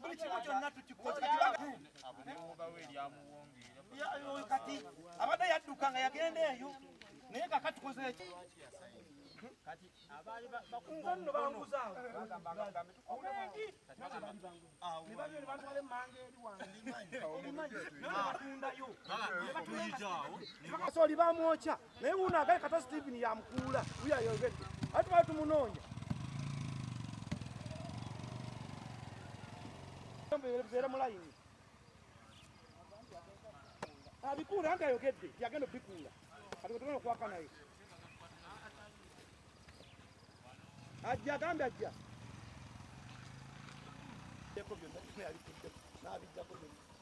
buli kimu kyonna tukikoekati abadde yadduka nga yagenda eyo naye kaka tukoze eki nzanno banguzaawo oli bamwokya naye wuuno agaye kata Steven yamukuula wiyayogedde ate tubale tumunoonya beera mulayini abikuula anti ayogedde yagenda obikuula kati wetugenda okwaka naye ajja agambe ajja byonna byonna yabikuddeko n'abiddako byonna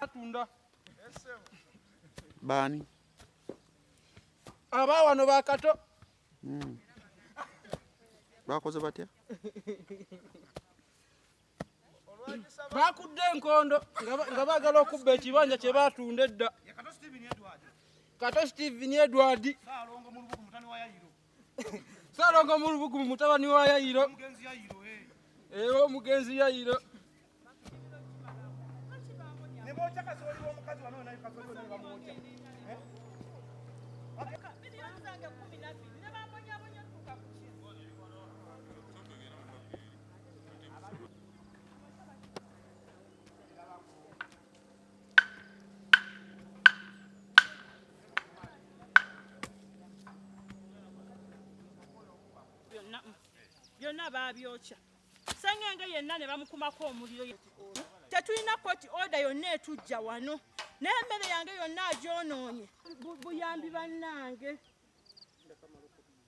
atunda baani aba wano bakato hmm. bakoze batya bakudde enkondo nga bagala okubba ekibanja kye batunda edda kato steven edward salongo mulubugumu mutabani wa yayiro era omugenzi yayiro byonna baabyokya sengenge yenna ne bamukumako omuliro tetulina koti oda yonna etujja wano n'emmere yange yonna agyonoonye buyambi bannange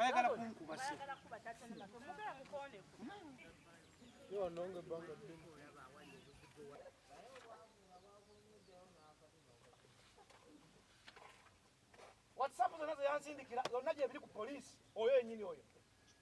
ayagala kunkuba whatsapp zonna zeyansindikira zonna gyebiri ku poliisi oyo enyini oyo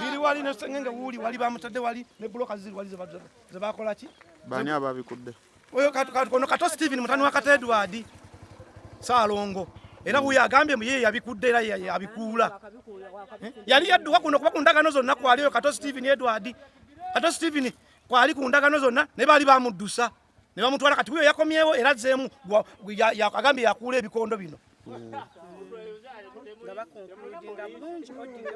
biri wali nesengenge wuli wali bamutadde wali ne bloka ziri wali zebakolaki bani ababikudde oyo katukono kato Steven mutani wa Kato Edward Salongo era huyo agambye mu yeye yabikudde era yabikuula eh? yali yadduka kuno kuba ku ndagano zonna kwali oyo Kato Steven Edward Kato Steven kwali ku ndagano zonna ne baali bamuddusa ne bamutwala kati huyo yakomyewo era zzeemu agambye yakuula ebikondo bino mm. nga bakonkuludinga bulungi odinga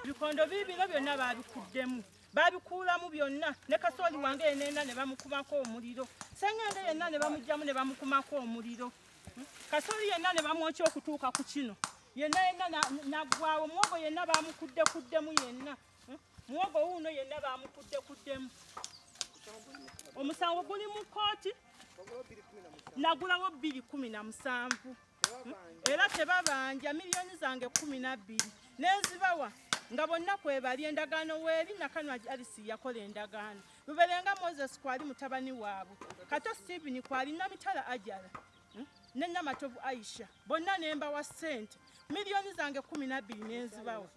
ebikondo biibino byonna baabikuddemu baabikuulamu byonna ne kasooli wange yenenna ne bamukumako omuliro sengende yenna ne bamugjamu ne bamukumako omuliro hmm? kasooli yenna ne bamwokya okutuuka ku kino yenna yenna naggwawo muwogo yenna baamukuddekuddemu yenna hmm? muwogo wuuno yenna baamukuddekuddemu omusango guli mu kkooti nagulawo bbiri kumi na musanvu era tebabanja miliyoni zange kumi nabbiri nezibawa nga bonna kwebali endagaano weeri nakanwa alisi yakola endagaano luberenga moses kwali mutabani waabwe kato stephen kwali namitala ajala hmm? ne namatovu aisha bonna nembawa ssente miliyoni zange kumi nabbiri nenzibawa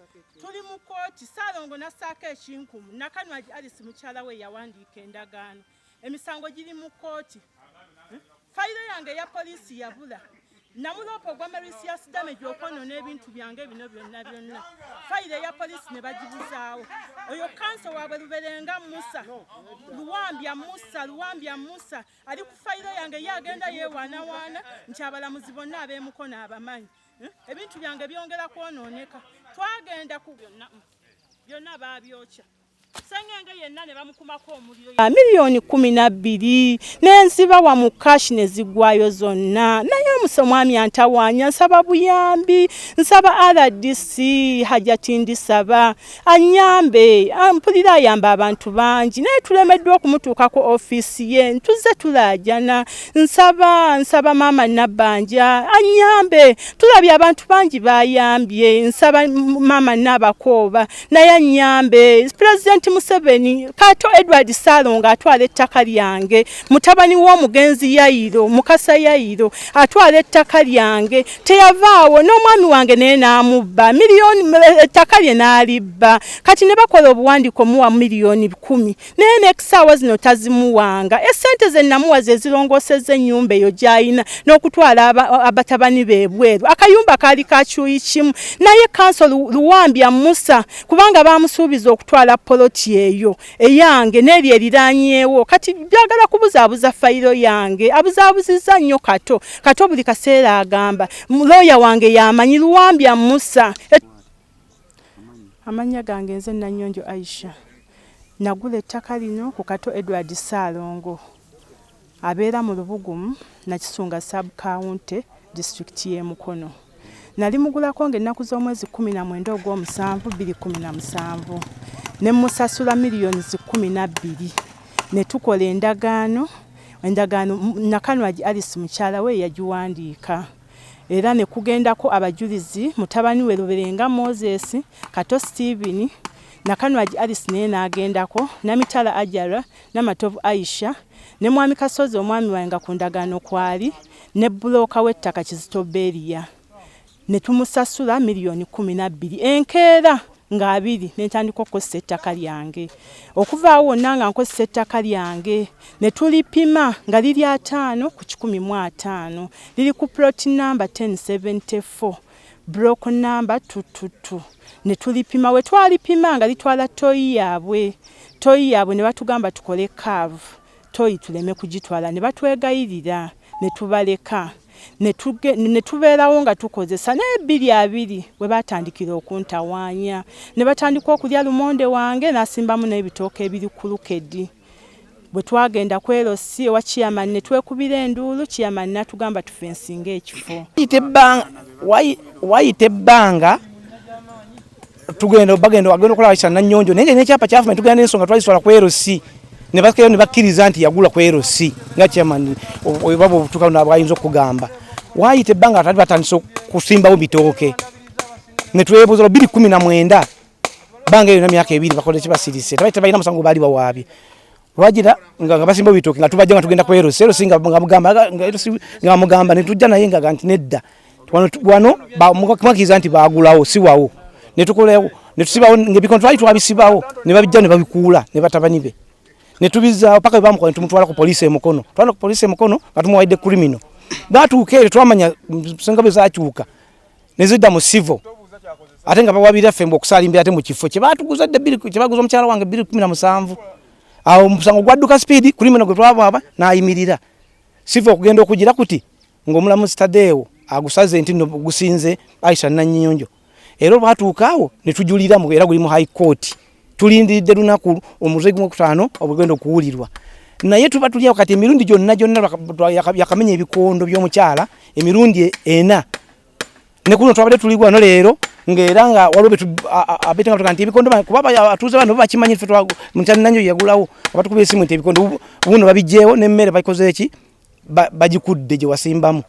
tuli mu kooti saalongo nassaako ekinkumu nakanwagi alisi mukyala we yawandiika endagaano emisango giri mu kkooti hmm? fayiro yange eya poliisi yabula namuloopa ogwa marisias damage okwonona ebintu byange bino byonna byonna fayiro eya poliisi ne bagibuzaawo oyo kanso waabwe luberenga musa luwambya musa luwambya musa ali ku fayiro yange ye agenda yewaanawaana nti abalamuzi bonna abeemukono abamanyi hmm? ebintu byange byongera kwonooneka twagenda ku byonna byonna baabyokya Ah, miliyoni kumi na bbiri nenzibawa mu kashi nezigwayo zonna naye omusa omwami antawanya nsaba buyambi nsaba rdc hajati ndisaba anyambe ah, mpulira ayamba abantu bangi naye tulemeddwa okumutuuka ku ofiisi ye ntuzze tulajana nsaba nsaba maama nabbanja anyambe tulabye abantu bangi bayambye nsaba maama naabakooba naye anyambe pulezidenti museveni kato edward salonga atwala ettaka lyange mutabani w'omugenzi yayiro mukasa yayiro atwala ettaka lyange teyavaawo n'omwami wange naye n'amubba miliyoni ettaka lye n'alibba kati ne bakola obuwandiiko muwa miliyoni kumi naye nekusaawa zino tazimuwanga esente zenamuwa zezirongoseza enyumba eyo gyayina nokutwala abatabani bebweru akayumba kaali kakyuyi kimu naye kanso luwambya musa kubanga bamusuubiza okutwala poloti eyo eyange neryo eriranyewo kati byagala kubuzabuza fayiro yange abuzabuziza nnyo kato kato buli kaseera agamba looya wange yamanyi luwambya musa Amannya gange nze Nanyonjo Aisha. Nagula ettaka lino ku Kato Edward Ssaalongo abeera mu Lubugumu Nakisunga sub county disitulikiti y'e Mukono. Nali mugulako ng'ennaku z'omwezi kkumi na mwenda ogw'omusanvu bbiri kkumi na musanvu ne musasula miliyoni zi kkumi na bbiri ne tukola endagaano endagaano Nakanwagi Alice mukyala we yagiwandiika. era ne kugendako abajulizi mutabani we Luberenga Moses, Kato Steven, Nakanwagi Alice naye n'agendako, Namitala Ajara, Namatovu Aisha ne Mwami Kasozi omwami waabwe nga ku ndagaano kwali ne bbulooka w'ettaka Kizito Beria ne tumusasula miliyoni kkumi na bbiri enkeera. nga abiri ne ntandika okukozesa ettaka lyange okuvaawo wonna nga nkozesa ettaka lyange ne tulipima nga liri ataano ku kikumi mu ataano liri ku ploti namba 1074 block namba tututu ne tulipima we twalipima nga litwala toyi yaabwe toyi yaabwe ne batugamba tukole kaavu Tooyi tuleme kugitwala ne batwegayirira ne tubaleka ne tubeerawo nga tukozesa naye bbiri abiri we baatandikira okuntawaanya ne batandika okulya lumonde wange n'asimbamu n'ebitooke ebiri ku lukedi bwe twagenda ku LC ewa chairman ne twekubira enduulu chairman n'atugamba tufensinge ekifo. Wayita ebbanga tugenda bagenda bagenda okulaba kisa nanyonjo naye nekyapa kyafuma tugenda nensonga twaliswala ku LC ne bakeyo ne bakkiriza nti yagula ku LC nga chairman baba obutuka na bwayinza okugamba wayita ebbanga atali batandise kusimbawo bitooke ne twebuuza lubiri kumi na mwenda banga eyo na myaka ebiri bakola ekibasirise tabaita balina musango baali bawaabye Wajira nga basimba bitoki nga tubajja nga tugenda ku Eros. Eros nga mugamba nga Eros nga mugamba ne tujja naye nga ganti nedda. Wano wano ba mukakiza nti bagulawo si wawo. Ne tukolewo ne tusibawo nge bikon twali twabisibawo ne babijja ne babikuula ne batabani be. Ne tubizza paka bamu kwa tumutwala ku police e Mukono. Twala ku police e Mukono nga tumuwaide criminal. Batuuka eri twamanya senga bezakyuka. nezidda mu civil ate nga bawabira ffe mbu okusalimbira ate mu kifo kye baatuguza dda bbiri kye baguza omukyala wange bbiri kumi na musanvu awo omusango gwadduka sipiidi kuli muno gwe twabwaba n'ayimirira siva okugenda okugira kuti ng'omulamu sitadeewo agusaze nti no gusinze aisha nannyonjo era olwatuuka awo ne tujuliramu era guli mu high court tulindiridde lunaku omutwe gwokutaano obugenda okuwulirwa naye tuba tulyawo kati emirundi gyonna gyonna yakamenya ebikondo byomukyala emirundi ena nekuno twabadde tuli wano leero ngaera nga waliwo abetenga nti ebikondo kuba abatuuze bano bakimanyi fe mutani nanyo yagulawo abatukuba esimu nti ebikondo buno babijjeewo nemmere bakoze eki bagikudde gye wasimbamu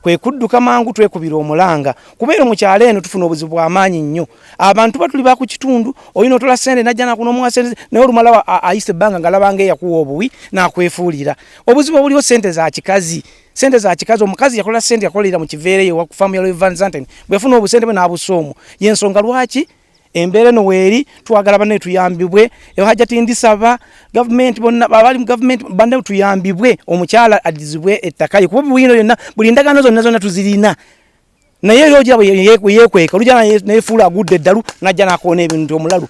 kwe kudduka mangu twekubira omulanga kubeera mu kyalo eno tufuna obuzibu bw'amaanyi nnyo abantu batuli ba ku kitundu olina otola ssente najja nakuno omuwasente naye olumala ayise ebbanga nga labanga eyakuwa obuwi n'akwefuulira obuzibu obuliwo ssente za kikazi sente za kikazi omukazi yakola sente yakolera mu kiveereyo wakufamu yaloevansanten bwefuna obusente bwe n'abusa omu y'ensonga lwaki embeera eno weeri twagala banaye tuyambibwe ehajati ndisaba gavumenti bonna abali mu gavumenti banaye tuyambibwe omukyala addizibwe ettaka ye kuba buyino yonna buli ndagaano zonna zonna tuzirina naye era ogira yekweka olujja nefuula agudde eddalu najja nakoona ebintu omulalu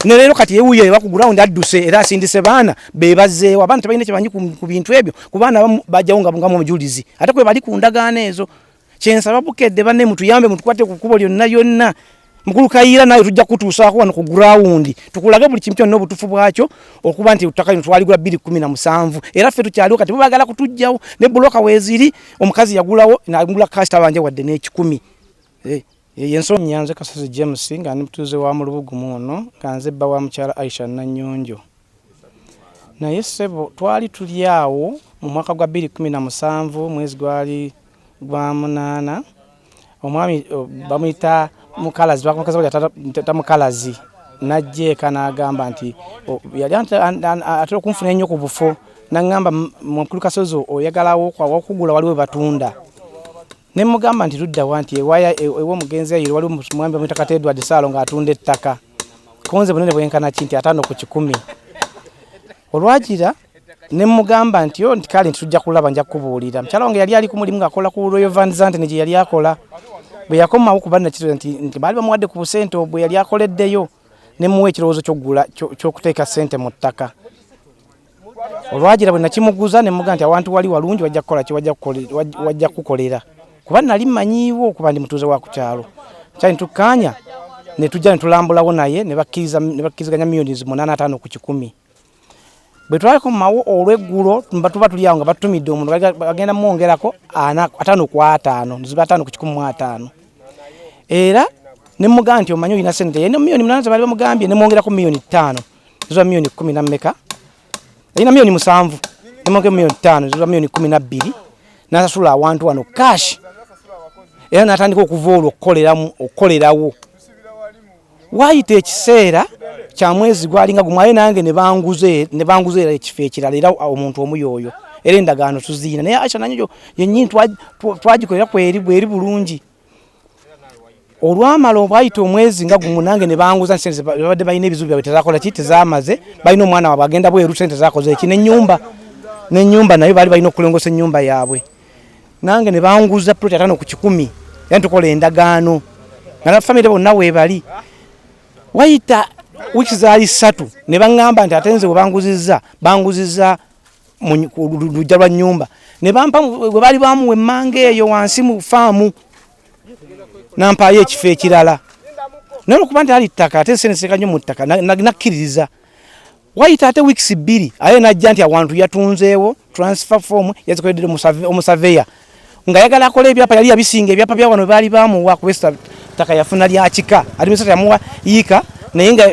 ne leero kati yewuyo eba ku ground adduse era asindise baana be bazzeewo abaana tebalina kyebanyi ku bintu ebyo ku baana abamu bajjawo nga bungamu omujulizi ate kwe bali ku ndagaano ezo kyensaba bukedde banne mutuyambe mutukwate ku kkubo lyonna lyonna mukulu kayiira nawe tujja kutuusaako wano ku gurawundi tukulage buli kintu kyonna obutufu bwakyo okuba nti ettaka lino twaligula bbiri kumi na musanvu era ffe tukyaliwo kati bubagala kutujjawo ne buloka weeziri omukazi yagulawo nagula kasita banje wadde n'ekikumi eh, eh, yensonyi yanze kasozi james nga ndi mutuuze wa mulubugumu ono nga nze bba wa mukyala aisha nanyonjo Naye ssebo twali tuli awo mu mwaka gwa bbiri kkumi na musanvu mwezi gwali gwa munaana omwami bamuyita mukalazi twakamukazako yata mukalazi n'ajja eka n'agamba nti yali atera okunfuna ennyo ku bufo n'aŋŋamba mukulu kasozi oyagalawo okugula waliwo batunda Ne mmugamba nti ludda wa? Nti ewaya e, ew'omugenzi Ayiro waliwo omwami bamuyita kata Edward Saalo ng'atunda ettaka. Ku nze bunene bwenkana ki? Nti ataano ku kikumi. Olwagira ne mmugamba nti yo nti kale nti tujja kulaba nja kukubuulira. Mukyala wange yali ali ku mulimu ng'akola ku Royal Van Zanten gye yali akola. Bwe yakomawo kuba nakitula nti, nti baali bamuwadde ku busente obwe yali akoleddeyo ne muwa ekirowoozo ky'okugula ky'okuteeka ssente mu ttaka. olwagira bwe nakimuguza ne muga nti awantu wali walungi wajja kukola ki wajja kukolera kuba nali manyiiwo kuba ndi mutuuze wa ku kyalo kyali ntukkaanya ne tujja ne tulambulawo naye ne bakkiriziganya miyoni zi munaana ataano ku kikumi bwe twakomawo olweggulo tuba tuli awo nga batumidde omuntu bagenda mwongerako ataano ku ataano ziba ataano ku kikumi mu ataano era ne muga nti omanyi olina sente yena miyoni munaana ze baali bamugambye ne mwongerako miyoni ttaano zula milioni kumi na mmeka alina milioni musanvu nemonke milioni tano zula milioni kumi na bbiri nasasula awantu wano cash era natandika okuva olwo okukoleramu okukolerawo wayita ekiseera kya mwezi gwalinga gumu aye nange nebanguza era ekifo ekirala era omuntu omu yoyo era endagaano tuziina naye aisha nanyo yenyini twagikolera kweri bweri bulungi olwamala obwayita omwezi nga gumu nange ne banguza nti sente babadde balina ebizibu byabwe tezakola ki tezamaze balina omwana wabwe agenda bweru sente zakoze eki nenyumba nenyumba nayo baali balina okulongosa enyumba yaabwe nange ne banguza ploti atano ku kikumi yani tukola endagaano nga na famire bonna weebali wayita wiki zaali ssatu ne baŋŋamba nti ate nze we banguzizza banguzizza lujja lwa nyumba nebampa webali bamuwa emmanga eyo wansi mu faamu nampaayo ekifo ekirala naye olwokuba nti ali ttaka ate nsenseka nyo mu ttaka nakkiririza wayita ate wiikisi bbiri aye najja nti awantu yatunzeewo transfer form yazikoledde omusaveya nga yagala akola ebyapa yali yabisinga ebyapa bya wano baali bamuwa kubesa taka yafuna lya kika ali misata yamuwa yika naye nga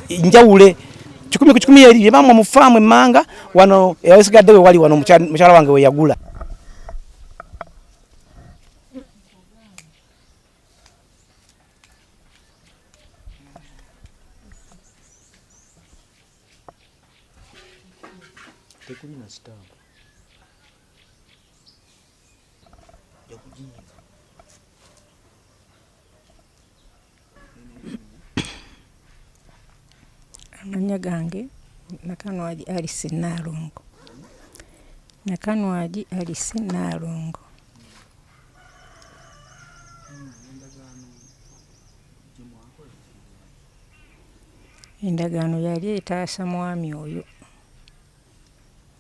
njawule kikumi ku kikumi yali bye bamuwa mu faamu emmanga wano yawesigadde we wali wano mukyala wange we yagula Tekulina sitaani. Amanya gange Nakanwagi Alice Naalongo. Nakanwagi Alice Naalongo. Endagaano yali etaasa mwami oyo.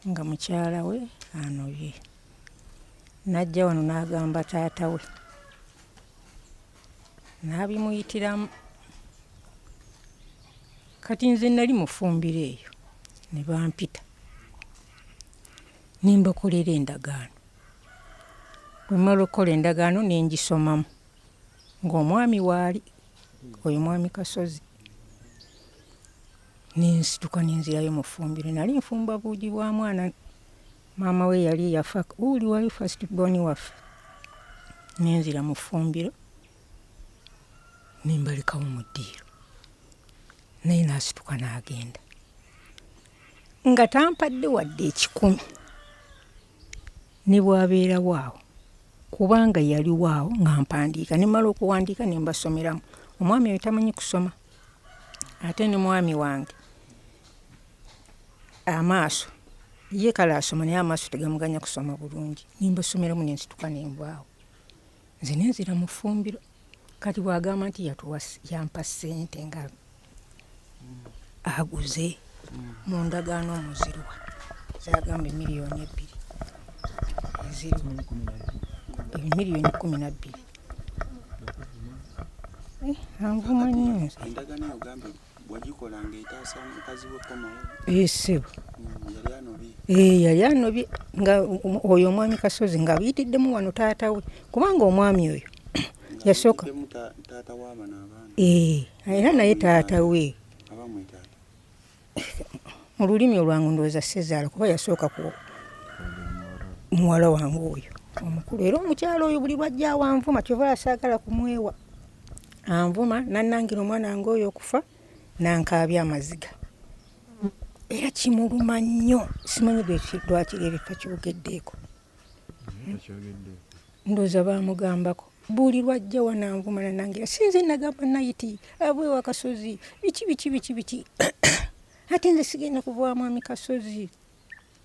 nga mukyala we anobye n'ajja wano n'agamba taata we n'abimuyitiramu kati nze nali mufumbiro eyo ne bampita ne mbakolera endagaano bwe mmala okukola endagaano ne ngisomamu ng'omwami waali oyo mwami kasozi nensituka nenzirayo mu ffumbiro nali nfumba buugi bwa mwana maama we yali yafa uli wali first born waffe nenzira mu ffumbiro nembalekawo mu ddiiro naye nasituka n'agenda nga tampadde wadde ekikumi ne bwabeerawo awo kubanga yaliwo awo nga mpandiika nemala okuwandiika nembasomeramu omwami oyo tamanyi kusoma ate ne mwami wange amaaso ye kale asoma naye amaaso tegamuganya kusoma bulungi nimba essomero mu nensituka nembwawo nze nenzira mu ffumbiro kati bwagamba nti yampa ssente nga aguze mu ndagaano omuziruwa zagamba emiliyoni ebbiri eziriwa emiliyoni kumi nabbiri Eh, anvuma nnyo endagano yogamba wagikola ngaetaasa mukazi we komawo esebo eh, eh, yali anobye nga oyo omwami kasozi nga biyitiddemu wano taata we kubanga omwami oyo yasooka era naye taata we mu lulimi olwangu ndowooza sezaala kuba yasooka ku muwala wange oyo omukulu era omukyalo oyo buli lwajja awanvuma kyova asaagala kumwewa anvuma nanangira omwana wange oyo okufa nankaabya amaziga era kimuluma nnyo simanyi lwaki ebifo kiwugeddeeko ndoza bamugambako buli lwajja wananvuma nanange sinze nagamba nayiti abwe wakasozi biki biki biki biki ate nze sigenda kuva mwami kasozi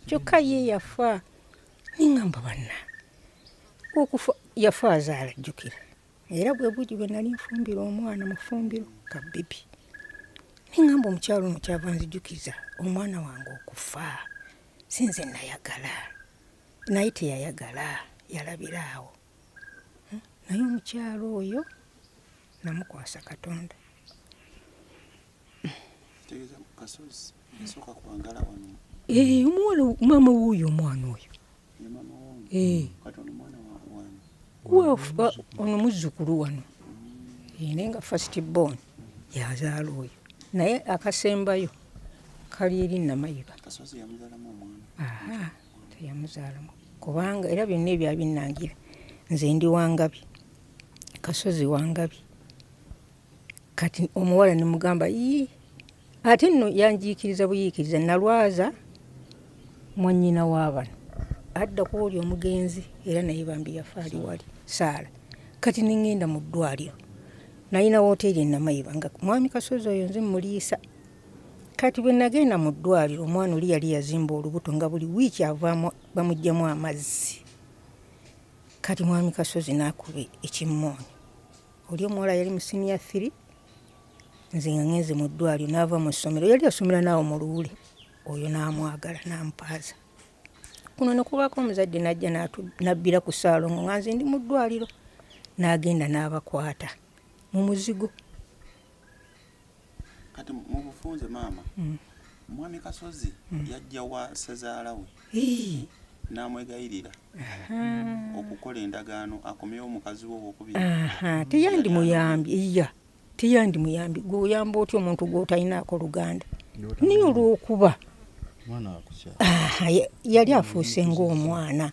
kyokka ye yafa ningamba banna okufa yafa azaala jjukira era bwe bugi bwe nali nfumbira omwana mufumbiro ka bibi ningamba omukyalo ono kyava nzijukiza omwana wange okufa sinze nayagala naye teyayagala yalabira awo hmm? naye omukyalo oyo namukwasa katonda eh, omuwala maama wuuyo omwana oyo eh. ono muzzukulu wano naye nga first born yazaala oyo naye akasembayo kali eri namayiba teyamuzaalamu kubanga era byonna ebyabinangira nze ndi wangabi kasozi wangabi kati omuwala nemugamba ii ate nno yanjiikiriza buyiikiriza nalwaza mwannyina w'abano adda ku oli omugenzi era naye bambi yafa ali wali saala kati nengenda mu ddwaliro nalina wooteeri enamayiba nga mwami kasozi oyo nze muliisa kati bwe nagenda mu ddwaliro omwana oli yali yazimba olubuto nga buli wiiki avaamu bamuggyemu amazzi kati mwami kasozi n'akuba ekimmooni oli omuwala yali mu siniya firi nze nga ngenze mu ddwaliro n'ava mu ssomero yali asomera naawe mu luwule oyo n'amwagala n'ampaaza kuno ne kubaako omuzadde n'ajja n'abbira ku ssaalongo nga nze ndi mu ddwaliro n'agenda n'abakwata mu muzigo kati mu bufunze maama mm. mwami kasozi mm. yajja wa sezaala we n'amwegayirira okukola endagaano akomewo omukazi we owokubiri teyandi muyambi iya teyandi muyambi gweoyamba otya omuntu gwotalinaako luganda naye olwokuba yali afuuse ngaomwana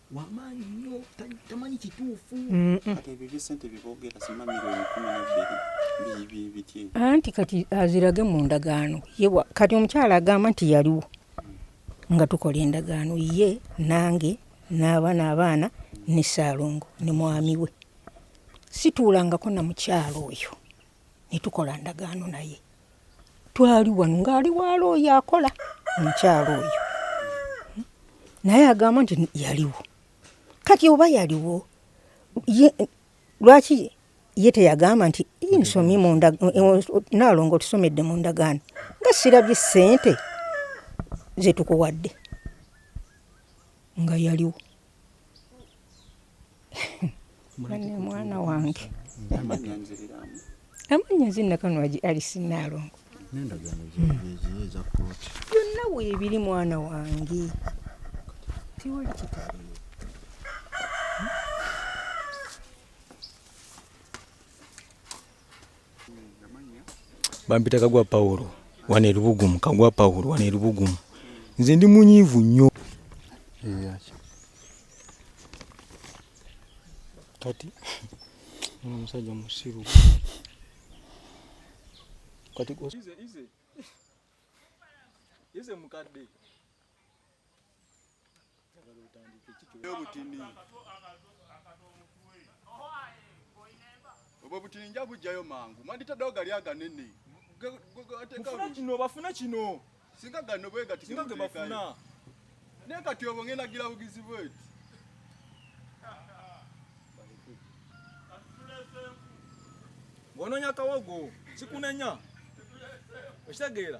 wamaanyi nnyo tamanyi kituufu anti kati azirage mu ndagaano yewa kati omukyala agamba nti yaliwo nga tukola endagaano ye nange n'abaana abaana ne ssaalongo ne mwami we situulangako na mukyalo oyo ne tukola ndagaano naye twali wano ng'ali waala oyo akola omukyalo oyo hmm? naye agamba nti yaliwo kati oba yaliwo lwaki ye teyagamba nti nsomye naalongo tusomedde mu ndagaano nga sirabye ssente zetukuwadde nga yaliwo bane mwana wange amanya nzinna kanwagi alisi naalongo byonna weebiri mwana wange tiwali kitali bampita kagwa pawulo wano erubugumu kagwa pawulo wano erubugumu nze ndi munyiivu nnyo kati omusajja musiru kati ize mukadde obutini obwo obutini nja bujjayo mangu mwanditaddewo gali aganene mufuna kino bafuna kino singa gano bwegatinga gebafuna naye kati obwo ngenda gira bugizi bweti ng'onoonya kawogo kikunenya okitegeera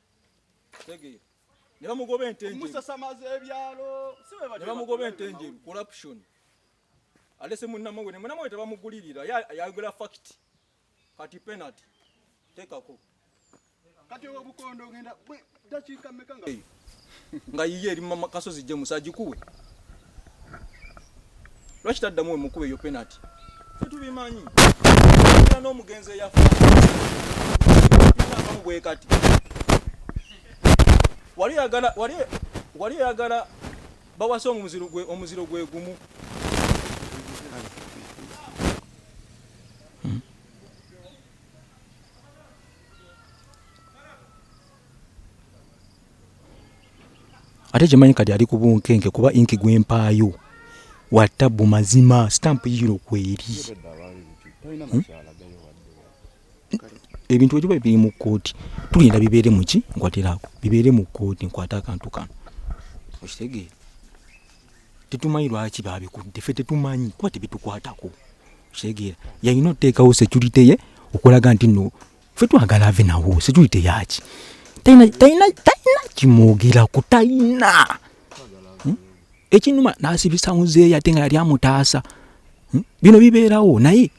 tegeera ne bamugoba ente enjeru musasamaza ebyalo ne bamugoba ente enjeru corruption alese munnamwe ne munnamwe tebamugulirira yayogera fact kati penalty tekako kati obukondo ogenda dakiika mmeka nga nga yiye eri mu kasozi gye musajikuwe lwaki taddamu wemukuba eyo penati tetubimanyi era n'omugenzi eyafa abamu bwe kati wali oyagala wali wali oyagala bawasa omuziro gwe omuziro gwe gumu ate kyemanyi kati ali ku bunkenke kuba inki gwempaayo watabbu mazima stamp yiro kweri hmm? ebintu egiba biri mu kkooti tulinda bibeere muki nkwatiraako bibeere mu kkooti nkwate akantu kano okitegeera tetumanyi lwaki babikudde fe tetumanyi kuba tebitukwatako okitegeera yalina oteekawo security ye okulaga nti no ffe twagala ave nawo security yaki talina talina talina kimwogerako talina hmm? ekinuma nasibisa muzeeyi ate nga yali amutaasa hmm? bino bibeerawo naye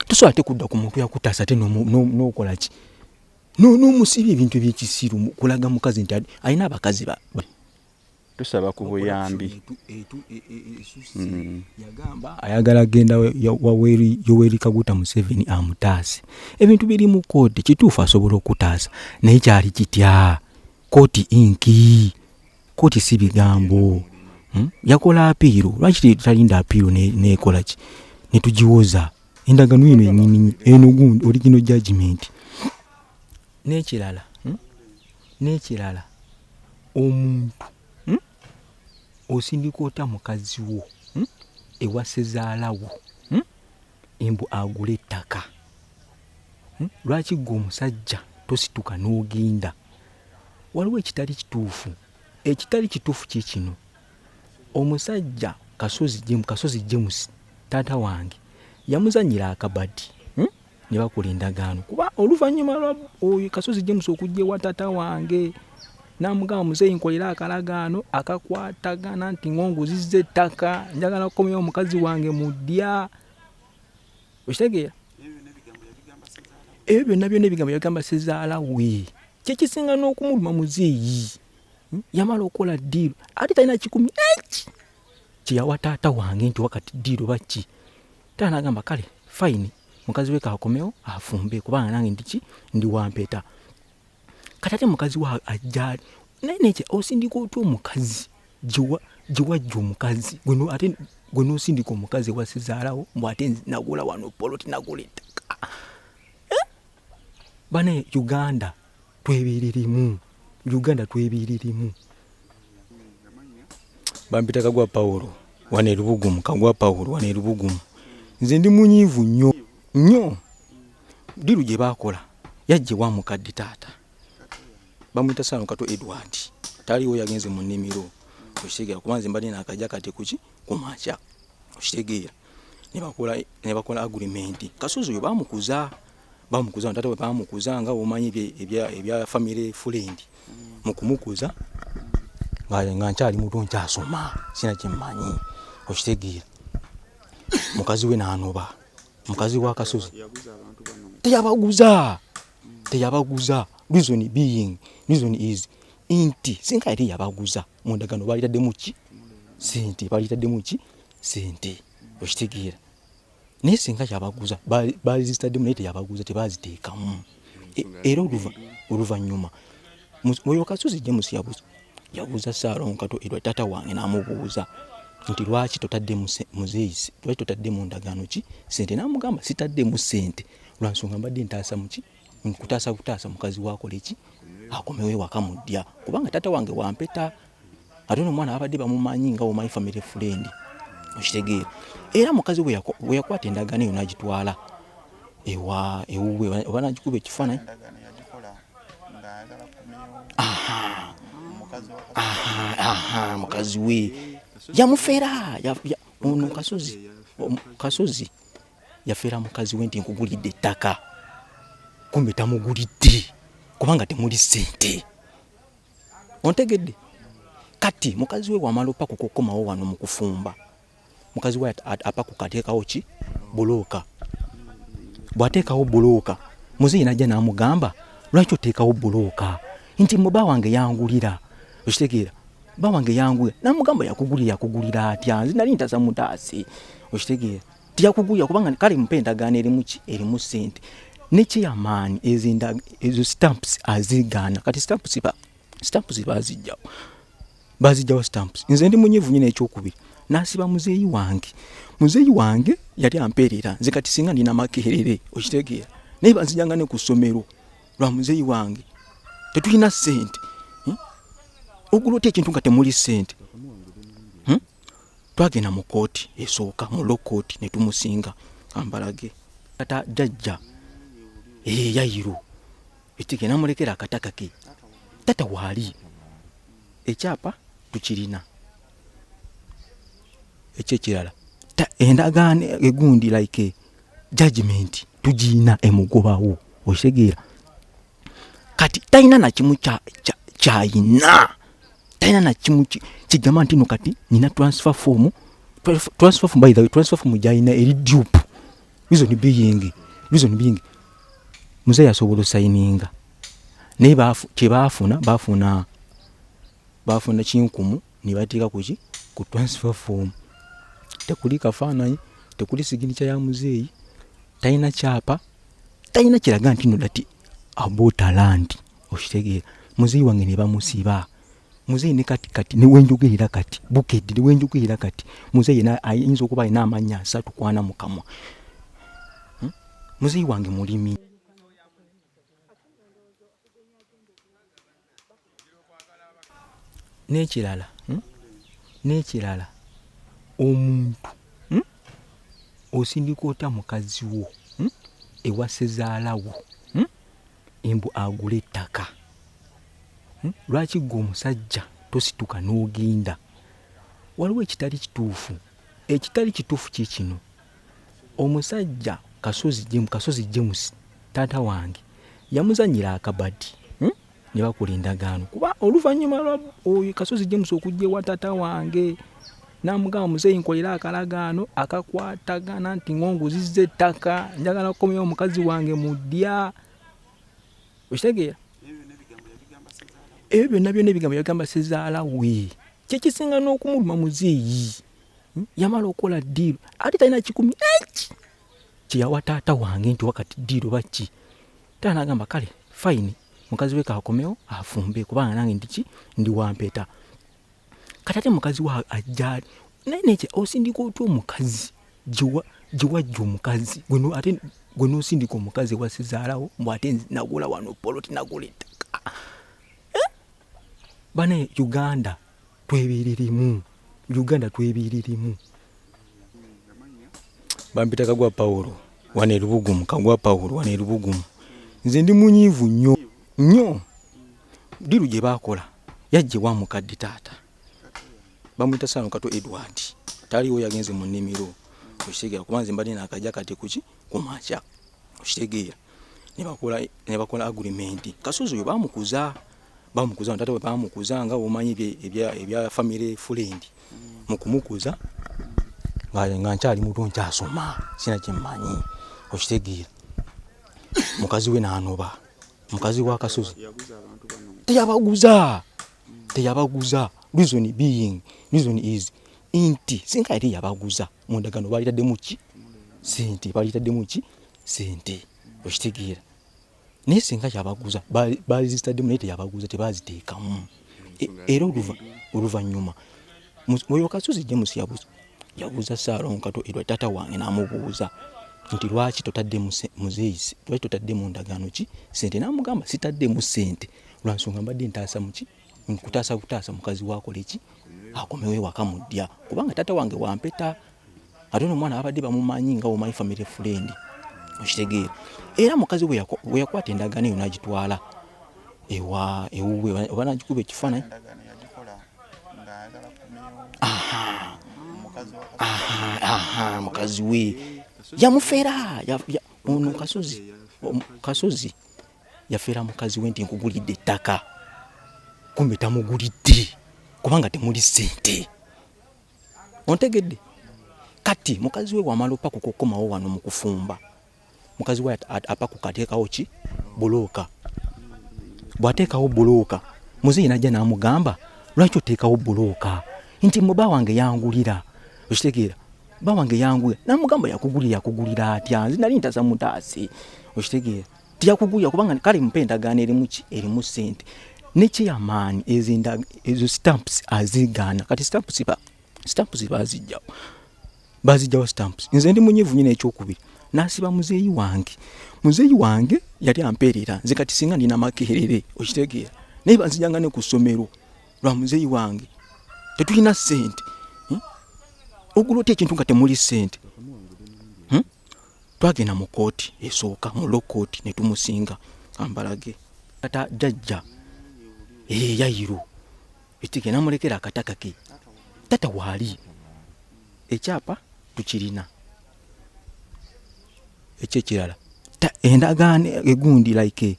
tosobola te kudda ku muntu yakutaasa ate nokola ki nomusiba ebintu ebyekisiru kulaga mukazi nti alina abakazi ba tusaba ku buyambi e, e, e, mm. ayagala genda yoweri kaguta museveni amutaase ebintu biri mu kooti kituufu asobola okutaasa naye kyali kitya kooti inki kooti si bigambo hmm? yakola apiiro lwaki talinda apiiro nekolaki netugiwoza endagano eno enyini eno gundi oligino judgement n'ekirala hmm? n'ekirala omuntu hmm? osindika otya mukazi wo hmm? ewa sezaalawo hmm? embu agula ettaka hmm? lwaki gwe omusajja tosituka n'ogenda waliwo ekitali kituufu ekitali kituufu kye kino omusajja kasozi kasozi james taata wange yamuzanyira akabadi ne bakola endagaano kuba oluvannyuma lwa oyo kasozi james okujja ewa tata wange namugamba muzeeyi nkolera akalagaano akakwatagana nti ngonguzizza ettaka njagala kukomyawo omukazi wange mu ddya okitegeera ebyo byonna byonna ebigambo yabigamba sezaala we kyekisinga n'okumuluma muzeeyi hmm? yamala okukola ddiiro ate talina kikumi eki kyeyawa taata wange nti wakati ddiiro bakki Taata n'agamba kale fayini mukazi we kaakomewo afumbe kubanga nange ndiki ndi wampeeta kati ate mukazi wa ajjaali naye nekye osindika otya omukazi gyewajja omukazi ate gwe nosindika omukazi ewasizaalawo mbu ate nagula wano poloti nagula ettaka eh? bane uganda twebiririmu uganda twebiririmu bampita kagwa pawulo wano erubugumu kagwa pawulo wano erubugumu nze ndi munyiivu nnyo nnyo diru gye baakola yajje wa mukadde taata bamuyita saano kato edward taliwo yagenze mu nnimiro okitegeera kuba nze mbadde naakaja kati kuki ku makya okitegeera nebakola agrimenti kasozi oyo bamukuza bamukuza nga taata we bamukuza nga omanyi ebya famire fulendi mm. mu kumukuza nga nkyali muto nkyasoma sina kyemmanyi okitegeera mukazi we nanoba mukazi wa kasozi teyabaguza mm. teyabaguza reason being reason is nti singa yali yabaguza mundagano balitaddemu ki sente balitaddemu ki sente okitegeera naye singa yabaguza baregistaddemu naye teyabaguza tebaziteekamu e, era oluvannyuma oyo kasozi james yabuza yabuuza saalonkato erwa taata wange n'amubuuza nti lwaki totadde muzeeyi lwaki totadde mu ndagaano ki sente n'amugamba sitaddemu sente lwansonga mbadde ntaasa muki nkutaasa butaasa mukazi wakola eki akomewo ewaka mu ddya kubanga taata wange wampeta ate ono omwana babadde bamumanyi nga omanyi family friend okitegeera era mukazi bwe yakwata endagaano eyo nagitwala ewa ewuwe oba nagikuba ekifaananyi mukazi we yamufera ono kasozi kasozi yafera mukazi we nti nkugulidde ettaka kumbe tamugulidde kubanga temuli sente ontegedde kati mukazi we wamala opaku kukomawo wano mu kufumba mukazi we apaku kateekawo ki bulooka bw'ateekawo bulooka muzeeyi najja n'amugamba lwaki oteekawo bulooka nti muba wange yangulira okitegeera ba wange yangulira namugamba yakugulira yakugulira atya nze nali ntaza mutaase okitegeera tujja kuguya kubanga kale mpa endagaano erimu ki erimu sente ne chairman ezinda ezo stamps azigaana kati stamps ba stamps bazijjawo bazijjawo stamps nze ndi munyivu nyine ekyokubiri nasiba muzeeyi wange muzeeyi wange yali ampeerera nze kati singa ndina makerere okitegeera naye banzijanga ne ku ssomero lwa muzeeyi wange tetulina sente hmm? ogulota ekintu nga temuli sente twagenda mu kooti esooka mu low court ne tumusinga ambalage kata jajja ee eh, yayiro ekige namulekera akataka ke tata waali ekyapa tukirina ekyekirala endagaano egundi like judgment tugiina emugobawo okitegeera kati talina nakimu kyayina talina nakimu kigamba ntino kati nina transfer form transfer form by the way transfer form gyalina eri dupe reason being reason being muze yasobola osayininga naye kyebaafuna baafuna baafuna kinkumu nebateeka kuki ku transfer form tekuli kafaananyi tekuli siginica ya muzeeyi talina kyapa talina kiraga nti no dati abotalanti okitegeera muzeyi wange ne bamusiba muzeyi ne kati kati newenjogerera kati bukedde newenjogerera kati muzeyi ayinza okuba alina amannya asatu kwana mukamwa hmm? muzeyi wange mulimi n'ekirala hmm? n'ekirala omuntu hmm? osindika otya mukazi wo hmm? ewa sezaalawo embu agula ettaka lwaki gwe omusajja tosituka n'ogenda waliwo ekitali kituufu ekitali kituufu kikino omusajja kasozi jemu kasozi james taata wange yamuzanyira akabadi hmm? ne bakola endagaano kuba oluvannyuma lwa oyo kasozi james okujja ewa taata wange namugamba muzeeyi nkolera akalagaano akakwatagana nti ngonguzizza ettaka njagala kukomyawo omukazi wange mu ddya okitegeera ebyo byonna byonna ebigambo yabigamba sezaala we kyekisinga n'okumuluma muzeeyi hmm? yamala okola diiru ate talina kikumi eki kyeyawa taata wange nti wakati diiru oba ki taata nagamba kale fayini mukazi we kakomewo afumbe kubanga nange ndiki ndi wampeta kati ate mukazi wa ajjaali naye nekye osindika otya omukazi gyewajja omukazi ate gwe nosindika omukazi wasizaalawo mbu ate nagula wano poloti nagula ettaka eh? bane uganda Twebiririmu. Uganda twebiririmu. Bampita kagwa Paulo wane lubugumu kagwa Paulo wane lubugumu. Nze ndi munyivu nyo nyo. Diru gye bakola yajje wa mukadde taata. Bamwita sano kato Edward. Taliwo yagenze mu nimiro. Kusigala kubanze mbadde nakajja kati kuki? kumakya okitegeera nebakola agurimenti kasozi oyo bamukuza bamukuza tata we bamukuza nga omanyi ebya famire fulendi mu kumukuza nga nkyali muto nkyasoma sina kyemmanyi okitegeera mukazi we nanoba mukazi wa kasozi teyabaguza teyabaguza reason being reason is nti singa yali yabaguza mu ndagaano baalitaddemu ki sente baalitaddemu ki sente okitegeera naye singa yabaguza baalizitaddemu naye teyabaguza tebaziteekamu e, era oluvannyuma oyo kasuzi james yabuza yabuuza saalongo kato erwa taata wange n'amubuuza nti lwaki totadde muzeeyi lwaki totadde mu ndagaano ki sente n'amugamba sitaddemu sente lwa nsonga mbadde ntaasa muki nkutaasa butaasa mukazi wakoleki akomewo ewaka mudya kubanga taata wange wampeta ate ono omwana babadde bamumanyi nga omanyi family friend okitegeera era mukazi weyakwata endagaano eyo nagitwala ewa ewuwe oba nagikuba ekifaananyi mukazi we yamufera ono kasozi kasozi yafera mukazi we nti nkugulidde ettaka kumbe tamugulidde kubanga temuli sente ontegedde kati mukazi we wamala opakuka okukomawo wano mu kufumba mukazi we apakuka ateekawo ki bulooka bw'ateekawo bulooka muzeeyi najja n'amugamba lwaki oteekawo bulooka nti mu ba wange yangulira okitegeera ba wange yangulira namugamba yakugulira yakugulira atya nze nali ntaza mutaase okitegeera tujja kuguya kubanga kale mpa endagaano erimu ki erimu sente ne chairman ezinda ezo stamps azigaana kati stamps ba stamps bazijjawo bazijjawo stamps nze ndi munyivu nyina ekyokubiri nasiba muzeeyi wange muzeeyi wange yali ampeerera nze kati singa ndina makerere okitegeera naye banzijanga ne ku ssomero lwa muzeeyi wange tetulina sente hmm? ogulota ekintu nga temuli sente twagenda mu kooti esooka mu law kooti ne tumusinga ambalage kata jajja eyayiro eh, ekiga namulekera akataka ke tata waali ekyapa tukirina ekyo ekirala endagaano egundi like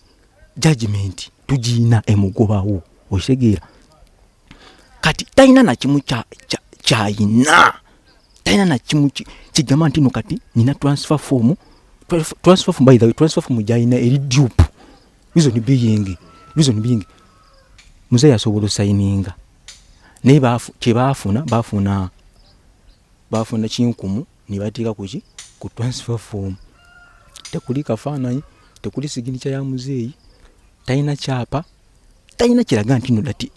judgment tugiina emugobawo okitegeera kati talina nakimu kyayina talina nakimu kigamba ntino kati nina transfer form transfer form by the way transfer form gyayina eri dupe reason being reason being muzeeyi asobola osayininga naye kyebaafuna baafuna baafuna kinkumu nebateeka kuki ku transfer form tekuli kafaananyi tekuli siginica ya muzeeyi talina kyapa talina kiraga nti no dati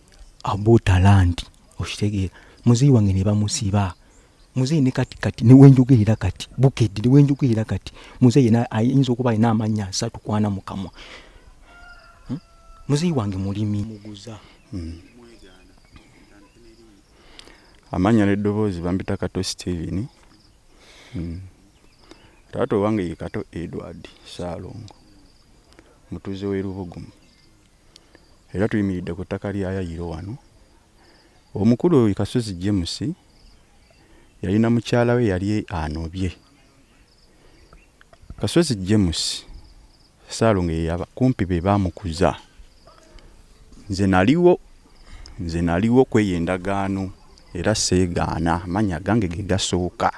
abotalandi okitegeera muzeeyi wange ne bamusiba muzeeyi ne kati kati newenjogerera kati bukedde newenjogerera kati muzeeyi ayinza okuba alina amannya asatu kwana mukamwa hmm? muzeeyi wange mulimi muguza hmm. amannya n'eddoboozi bampita kato steven hmm. taata owange ye kato edward saalongo Mutuuze w'e Lubugumu era tuyimiridde ku ttaka lya Yayiro wano. Omukulu oyo Kasozi James yalina mukyala we yali anobye. Kasozi James Ssaalongo ye yaba- kumpi be baamukuza. Nze naliwo nze naliwo kweyo endagaano era seegaana amannya gange ge gasooka.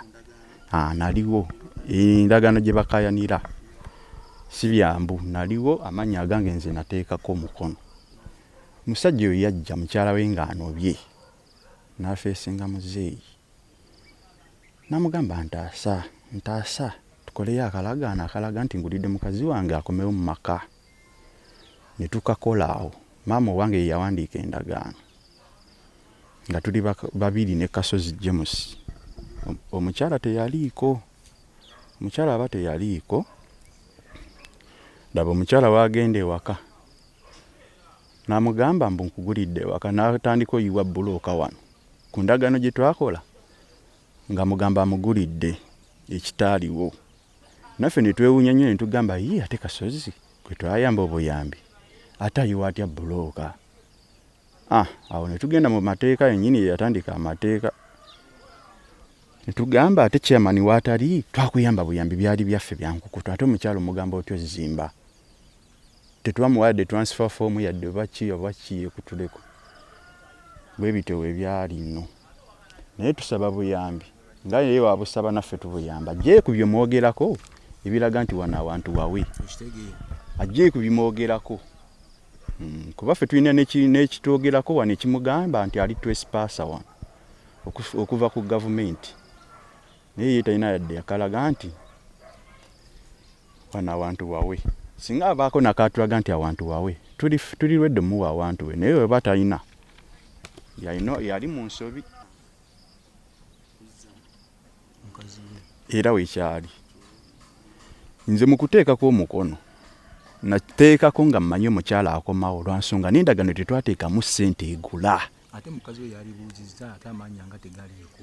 Ah, naliwo endagaano gye bakayanira si byangu naliwo amannya agange nze nateekako omukono musajja oyo yajja mukyala we ng'anobye n'afeesinga muzeeyi namugamba ntaasa ntaasa tukoleyo akalagaano akalaga nti ngulidde mukazi wange akomewo mu maka ne tukakola awo maama owange ye yawandiika endagaano nga tuli babiri ne kasozi james omukyala teyaliiko omukyala aba teyaliiko laba omukyala waagenda ewaka n'amugamba mbu nkugulidde ewaka n'atandika oyiwa bbulooka wano ku ndagaano gye twakola nga mugamba amugulidde ekitaaliwo naffe ne twewuunya nnyo ne tugamba yii ate kasozi gwe twayamba obuyambi ate ayiwa atya bbulooka ah, awo ne tugenda mu mateeka yennyini ye yatandika amateeka ne tugamba ate chairman waatali twakuyamba buyambi byali byaffe byankukutu ate omukyalo omugamba otya ozimba tetwamuwa yadde transfer form yadde oba ki oba ki yekutuleko bwe bityo we byali nno naye tusaba buyambi nga naye wabusaba naffe tubuyamba ajje ku bye mwogerako ebiraga nti wano awantu wawe ajje ku bimwogerako hmm, kuba ffe tulina n'ekitwogerako wano ekimugamba nti ali twesipaasa wano okuva ku gavumenti naye ye talina yadde yakalaga nti wano awantu wawe singa abaako nakatulaga nti awantu wawe tuli lwedde muwa awantu we naye weba talina yali mu nsobi era wekyali nze mukuteekako omukono nateekako nga mmanyi omukyala akomawo olwansonga nendagano tetwateekamu ssente egula ate mukazi we yalibuuzizza ate amanya nga tegaliiko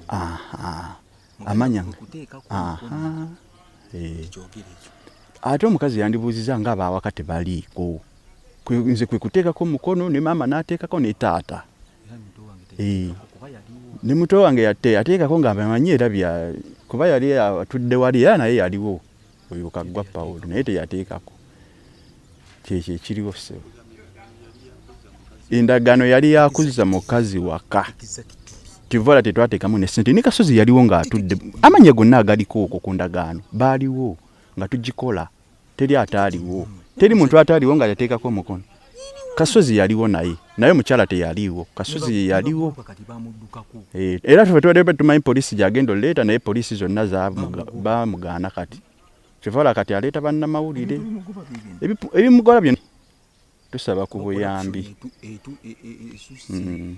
amanya eh. ate omukazi yandibuuziza nga abaawaka tebaliiko nze kwe kuteekako mukono ne maama n'ateekako ne taata eh. ne muto wange yateekako nga amanyi era bya kuba yali atudde wali era naye yaliwo oyo kaggwa pawulo naye teyateekako kyekyo ekiriwo ssebo endagaano yali yakuzza mukazi waka kivala tetwateekamu nesente ne kasozi yaliwo ng'atudde amanya gonna agaliko okwo ku ndagaano baaliwo nga tugikola teri ataaliwo teri muntu ataaliwo nga yateekako omukono kasozi yaliwo naye naye omukyala teyaliiwo kasozi yeyaliwo eh, era fe tubadde tumanyi poliisi gyagenda oleeta naye poliisi zonna bamugaana kati kyevala kati aleeta bannamawulire ebimugola byona tusaba ku buyambi e, e, e, mm.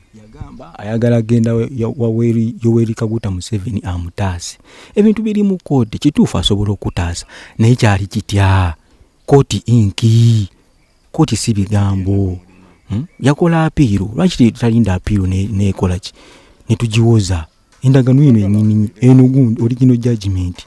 ayagala genda waweri yoweri kaguta museveni amutaase ebintu biri mu kooti kituufu asobola okutaasa naye kyali kitya kooti inki koti si bigambo hmm? yakola apiiro lwaki talinda apiiro nekola ki netugiwoza endagano eno enyini eno gundi original judgment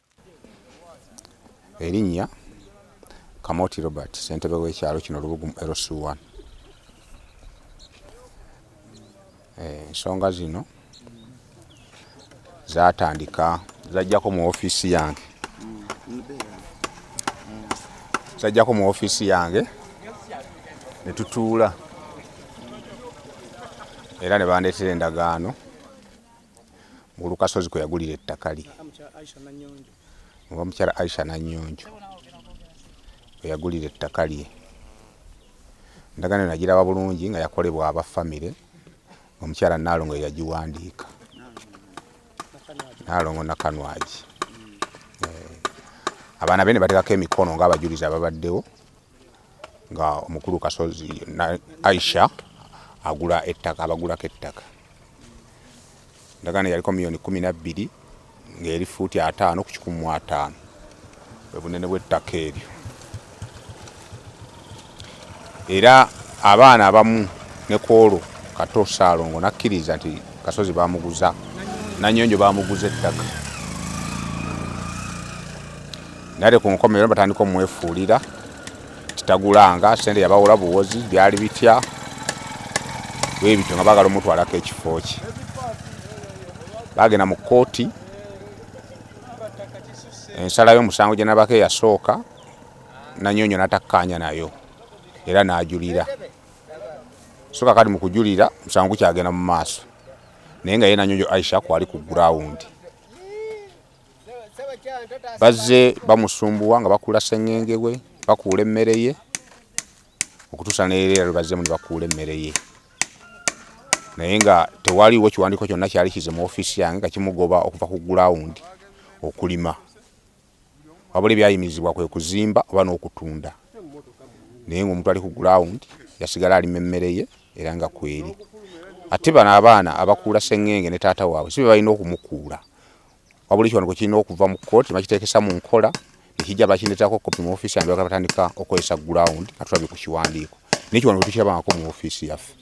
Erinnya Kamoti Robert, ssentebe w'ekyalo kino Lubugumu LC1. Eh, ensonga e, zino zatandika zajjako mu ofiisi yange zajjako mu ofiisi yange ne tutuula era ne bandeetera endagaano mu Lukasozi kwe yagulira ettaka lye nga omukyala Aisha Nannyonjo kwe yagulira ettaka lye endagaano eno nagiraba bulungi nga yakolebwa aba famire omukyala Nnaalongo ye yagiwandiika Nnaalongo Nakanwagi eh, abaana be ne bateekako emikono ng'abajulizi ababaddewo nga omukulu kasozi aisha agula ettaka abagulako ettaka ndagaano yaliko miliyoni kumi nabbiri ngaeri fuuti ataano ku kikumi mu ataano bwebunene bwettaka eryo era abaana abamu nekwolwo kato saalongo nakkiriza nti kasozi bamuguza nanyonjo bamuguza ettaka nate ku nkomerero batandika omwefuulira kitagulanga sente yabawola buwozi byali bitya webityo nga bagala omutwalako ekifo kye bagenda mu kooti ensala y'omusango gye nabako eyasooka nanyonyo natakkaanya nayo era n'ajulira soka kati mu kujulira omusango gukyagenda mu maaso naye nga ye nanyonyo aisha kwali ku gurawundi bazze bamusumbuwa nga bakuula sengenge we bakuula emmere ye okutuusa nereera lwebazzemu ne bakuula emmere ye naye nga tewaliwo kiwandiiko kyonna kyali kize mu ofiisi yange nga kimugoba okuva ku gulawundi okulima wabula ebyayimirizibwa kwe kuzimba oba n'okutunda naye ngaomuntu ali ku gulawundi yasigala alima emmere ye era nga kweri ate bano abaana abakuula sengenge ne taata waabwe si bebalina okumukuula wabula ekiwandiiko kirina okuva mu kkooti bakiteekesa mu nkola nekijja bakindeetako kopi mu ofiisi yange bagala batandika okukozesa ground atulabye ku kiwandiiko naye kiwandiiko tukirabangako mu ofiisi yaffe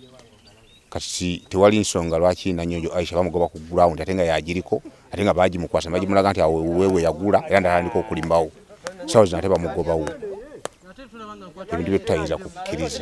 kati tewali nsonga lwaki nanyonjo aisha bamugoba ku ground ate nga yagiriko ate nga bagimukwasa bagimulaga nti awo wewe yagula era ndatandika okulimawo sawa zino ate bamugobawo ebintu byetutayinza kukkiriza